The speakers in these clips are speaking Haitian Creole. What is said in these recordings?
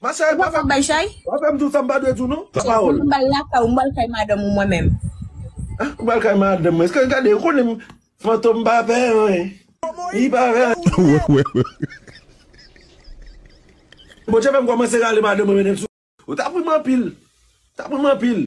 Ma chère, pa fè pa fè m di w sa m pa dwe di w non. San pawòl. Mwen m bal lakay ou, m bal kay madanm ou mwen menm. Ah, ou bal kay madanm mwen. Eske, gade, ou konnen m Fantom pa pè anyen. Li pa pè anyen. Bondye fè m kòmanse rale madanm mwen mennen l sou. Ou tap ri m anpil. Tap ri m anpil.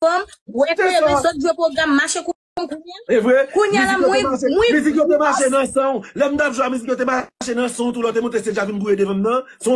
Fanm wè kleren sot jwe pwogram mache kou m kounya. E vre, mizik yo te mache, mizik yo te mache nan san w. Lè m t ap jwe a mizik yo te mache nan san w tou lè w te monte stedj la vin gouye devan m nan.